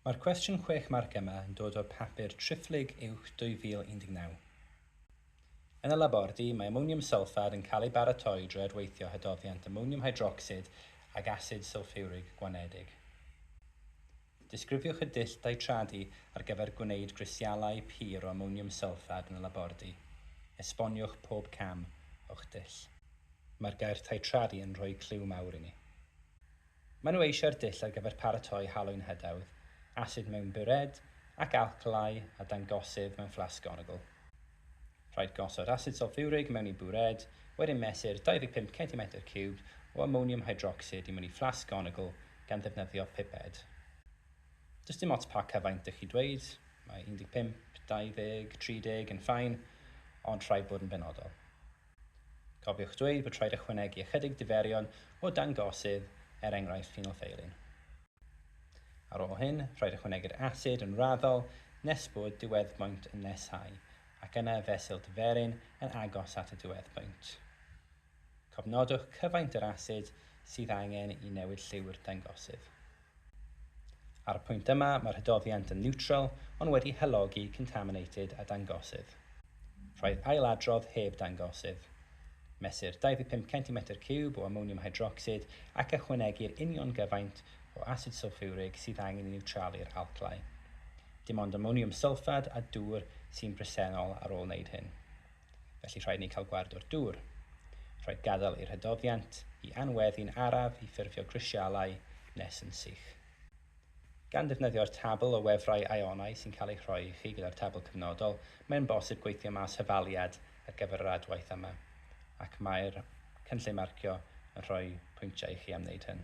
Mae'r cwestiwn chwech marc yma yn dod o'r papur Triphlyg Uwch 2019. Yn y labordy, mae amoniwm sylffad yn cael ei baratoi drwy adweithio hydoddiant amoniwm hydrocsid ag asid sylffiwrig gwanedig. Disgrifiwch y dull daitradu ar gyfer gwneud grisialau pur o amoniwm sylffad yn y labordy. Esboniwch pob cam o'ch dull. Mae'r gair taitradu yn rhoi cliw mawr i ni. Maen nhw eisiau'r dull ar gyfer paratoi halwyn hedawdd, asid mewn bured ac alclai a dangosydd mewn fflasg onogl. Rhaid gosod asid sylffiwrig mewn i bured, wedyn mesur 25 centimetr ciwb o amoniwm hydrocsid i mewn i fflasg onogl gan ddefnyddio piped. Does dim ots pa cyfaint dych chi dweud, mae 15, 20, 30 yn fine, ond rhaid bod yn benodol. Cofiwch dweud bod rhaid ychwanegu ychydig diferion o dangosydd, er enghraifft phenolfeilun. Ar ôl hyn, rhaid ychwanegu'r asid yn raddol nes bod diweddbwynt yn nesáu, ac yna y fesul diferyn yn agos at y diweddbwynt. Cofnodwch cyfaint yr asid sydd angen i newid lliw'r dangosydd. Ar y pwynt yma, mae'r hydoddiant yn niwtral ond wedi halogi contaminated a dangosydd. Rhaid ailadrodd heb dangosydd. Mesur 25 centimetr ciwb o amoniwm hydrocsid ac ychwanegu'r union gyfaint o asid sylffiwrig sydd angen i niwtralu'r alclau. Dim ond amoniwm sylffad a dŵr sy'n bresennol ar ôl wneud hyn. felly rhaid ni cael gward o'r dŵr. Rhaid gadael i'r hydoddiant i anweddu'n araf i ffurfio grisialau nes yn sych. Gan ddefnyddio'r tabl o wefrau aionau sy'n cael ei rhoi i chi gyda'r tabl cyfnodol, mae'n bosib gweithio mas hyfaliad ar gyfer yr adwaith yma, ac mae'r cynllun marcio yn rhoi pwyntiau i chi am wneud hyn.